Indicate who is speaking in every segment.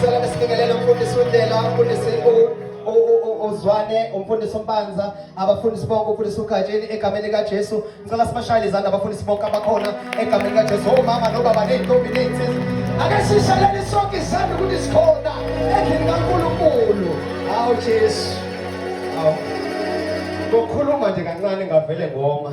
Speaker 1: Sicela besibingelele umfundisi uNdlela, umfundisi uZwane, umfundisi uMpanza, abafundisi bonke, umfundisi uGatsheni egameni likaJesu. Ngicela sibashayele izandla abafundisi bonke abakhona egameni likaJesu. Omama oh, nobaba ney'ntombi ney'nsizwa. Ake sishalele sonke izandla ukuthi sikhona endlini kaNkulunkulu. Hawu Jesu. Hawu. Ngokukhuluma nje kancane ngavele ngoma.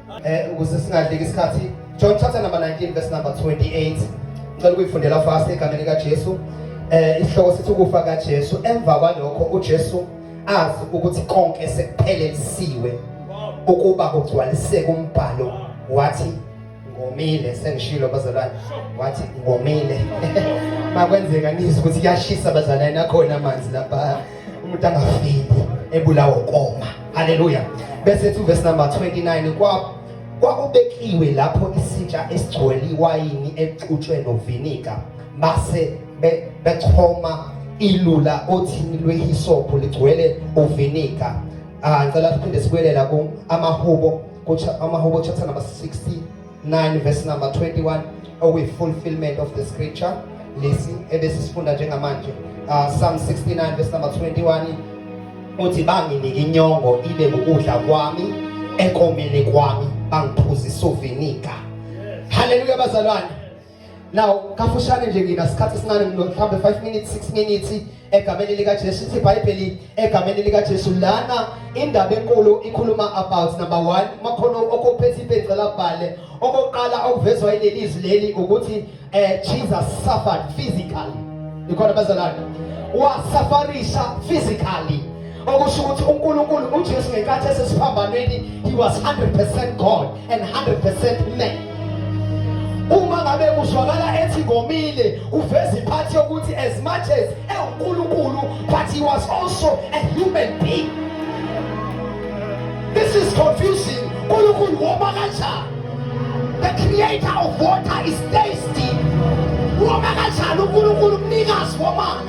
Speaker 1: Eh ukuze singadleki isikhathi John chapter number 19 verse number 28 ngicela ukuyifundela fast egameni lika Jesu eh isihloko sithi ukufa ka Jesu emva kwalokho uJesu azi ukuthi konke sekuphelelisiwe ukuba kugcwaliseke umbhalo wathi ngomile sengishilo bazalwane wathi ngomile makwenzeka nizwe ukuthi kuyashisa bazalwane nakhona amanzi lapha umuntu angafiki ebulawa ukoma haleluya bese ethi uverse number 29 kwa kwakubekiwe lapho isitsha esigcwele iwayini exutshwe novinika base bechoma ilula othini lwehisophu ligcwele uvinika ah ngicela siphinde sibuyelela ku amahubo amahubo chapter number 16 9 verse number 21 okuyi fulfillment of the scripture lesi ebesisifunda njengamanje uh, Psalm 69 verse number 21 uthi banginike inyongo ibe ukudla kwami ekomile kwami bangiphuzisa uviniga haleluya bazalwane Now, kafushane nje ngina sikhathi sincane mhlawumbe 5 minutes 6 minutes egameni lika Jesu ithi iBhayibheli egameni lika Jesu lana indaba enkulu ikhuluma about number 1 makhono okuphethe ibhecela bhale okokuqala okuvezwa ilelizwi leli ukuthi eh Jesus suffered physically ikhona bazalana wasafarisha physically okusho ukuthi uNkulunkulu uJesu ngenkathi esesiphambanweni he was 100% God and 100% men uma ngabe kuzwakala ethi ngomile uveza iphathi yokuthi as much as ewunkulunkulu but he was also a human being this is confusing unkulunkulu woma kanjani the creator of water is tasty woma kanjani unkulunkulu mnikazi womanzi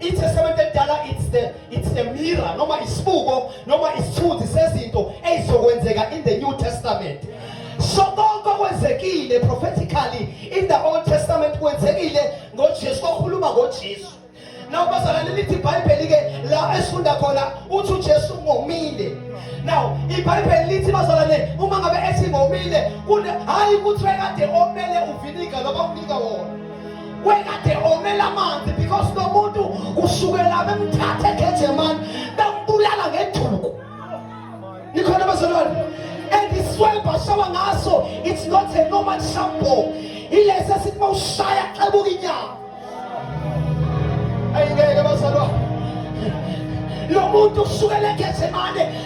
Speaker 1: ITestament edala it's the it's a mirror noma isibuko noma isithunzi sezinto ezizokwenzeka in the New Testament. So konke okwenzekile prophetically in the Old Testament kwenzekile ngoJesu kokhuluma ngoJesu. Now bazalwane lithi iBhayibheli ke la esifunda khona uthi uJesu ngomile. Now iBhayibheli lithi bazalwane uma ngabe ethi ngomile hayi ukuthi wekade omele uviniga noma unika wona. wekade omela amanzi because lo muntu kusukela bemthathe eGethsemane bembulala ngeduku nikhona bazalwane and iswebha shawa ngaso it's not a normal shampoo ilesi esithi uma ushaya xebuka inyama ayingeke bazalwane lo muntu usukela eGethsemane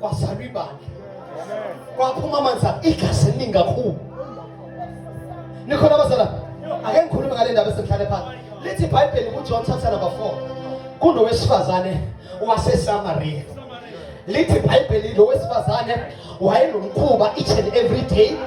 Speaker 1: kwazalwa ibandla kwaphuma amanzi igazi eliningi kakhulu nikhona abazala ake ngikhulume ngale ndaba esemhlale phansi lithi ibhayibheli kujohn chapter number 4 kunowesifazane wasesamariya lithi ibhayibheli lo wesifazane wayenomkhuba each and every day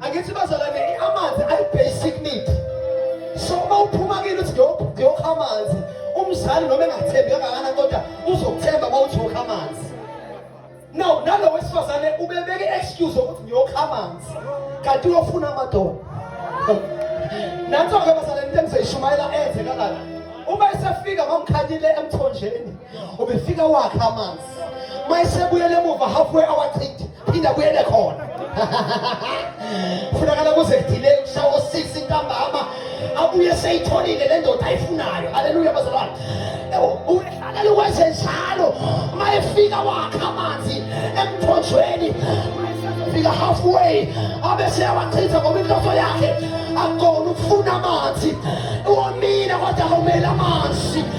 Speaker 2: angithi bazalwane amanzi ayi-basic need so uma uphuma kini uthi ngiyokha amanzi umzali noma engathembi kangakana kodwa uzokuthemba uma uthi wokha amanzi now nalo wesifazane ubebeke i-excuse yokuthi ngiyokha amanzi kanti uyofuna amadoda nanso-ke bazalwane into engizoyishumayela enze kalala uma esefika mamkhanyile emthonjeni ubefika wakhe amanzi uma esebuyele emuva halfway awachithe phinda kuyele khona funakala kuze kudile kushawa osisi ntambama abuye seyitholile le ndoda ayifunayo aleluya bazalwane uhlakele ukwenze njalo uma efika wakha amanzi emthonjweni fika halfway abe seyawachitha ngoba inhloso yakhe akona ukufuna amanzi womile kodwa awumele amanzi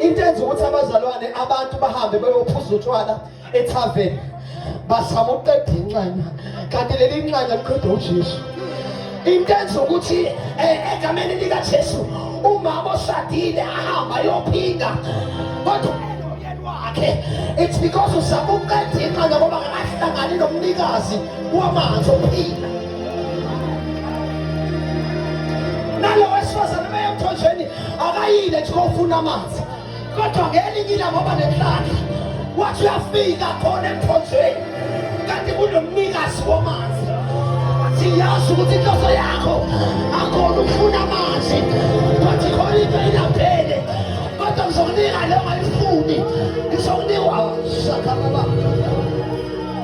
Speaker 2: into enza ukuthi abazalwane abantu bahambe beyophuza utshwala ethaveni bazama ukuqeda inxanya kanti leli nxanya liqeda ujesu into enza ukuthi eh, egameni likajesu umama oshadile ahamba yophinga kodwa wakhe it's because uzama ukuqeda inxanya ngoba akahlangani nomnikazi wamanzi ophila nalo wesifazane beyemthonjeni akayile nje kofuna amanzi kodwa ngelinye ilanga oba nenhlaka wathi uyafika khona emthonjeni kanti kunomnikazi womanzi siyazi ukuthi inhloso yakho akhona ukufuna amanzi but khona into ingaphele kodwa ngizokunika leyo ngayifuni ngizokunika ushakababa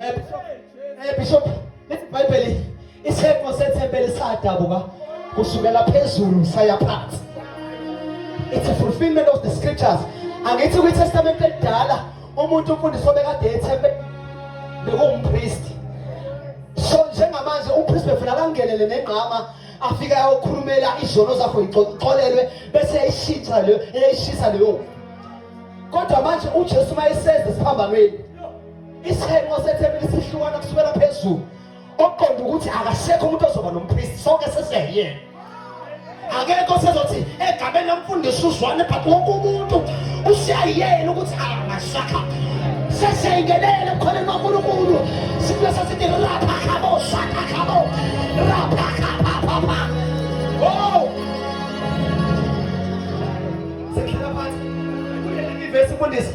Speaker 2: Eh, eh, bishop lithi ibhayibheli isifo sethempeli sadabuka kusukela phezulu saya phansi it's a fulfillment of the scriptures angithi kwitestament elidala umuntu umfundisi obekade ethempeli bekuwumpristi so njengamanje umpristi befuna akangenele nengqama afike ayokhulumela izono zakho ixolelwe bese eyishintsha leyo eyishisa leyo kodwa manje ujesu uma eseza esiphambanweni Isihlengo sethempeli sihlukana kusukela phezulu. Okuqonda ukuthi akasekho umuntu ozoba nompriest sonke sesiyena. Akekho sezothi egameni lomfundisi uzwane but wonke umuntu usiyayena ukuthi angasakha. Sesiyingenele khona noNkulunkulu. Sifuna sesithi rapha khabo shaka khabo. Rapha khabo papa. Oh! Sekhela phansi. Kuleli verse mfundisi.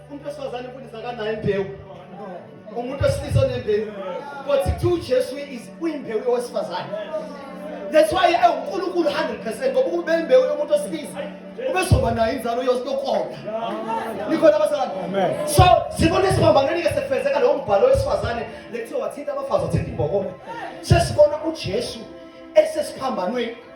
Speaker 2: umuntu wesifazane imfundisi akanayo imbewu umuntu wesilisa onembewu kodwa kuthiwa ujesu uyimbewu yowesifazane that's why ewunkulunkulu 100 percent ngoba ukube imbewu yomuntu wesilisa ubezoba nayo inzalo yokuqonda nikhona abazalwane so sibona esiphambanweni-ke sekufezeka lowo mbhalo wesifazane lekuthiwa wathinta abafazi wathinta imbokolo sesibona ujesu esesiphambanweni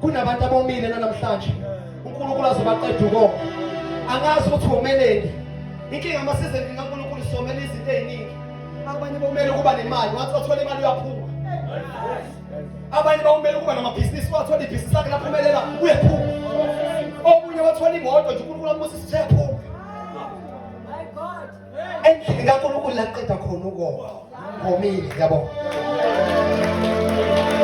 Speaker 2: kunabantu abomile nanamhlanje uNkulunkulu azobaqeda ukoma angazi ukuthi womeleni inkinga amasizeni kaNkulunkulu somela izinto eziningi abanye bomele ukuba nemali wathi wathola imali uyaphuma abanye bawumele ukuba namabhizinisi wathola ibhizinisi lakhe laphumelela uyaphuma omunye wathola imoto nje uNkulunkulu ambusa isiphepho endlini kaNkulunkulu laqeda khona ukoma ngomile yabo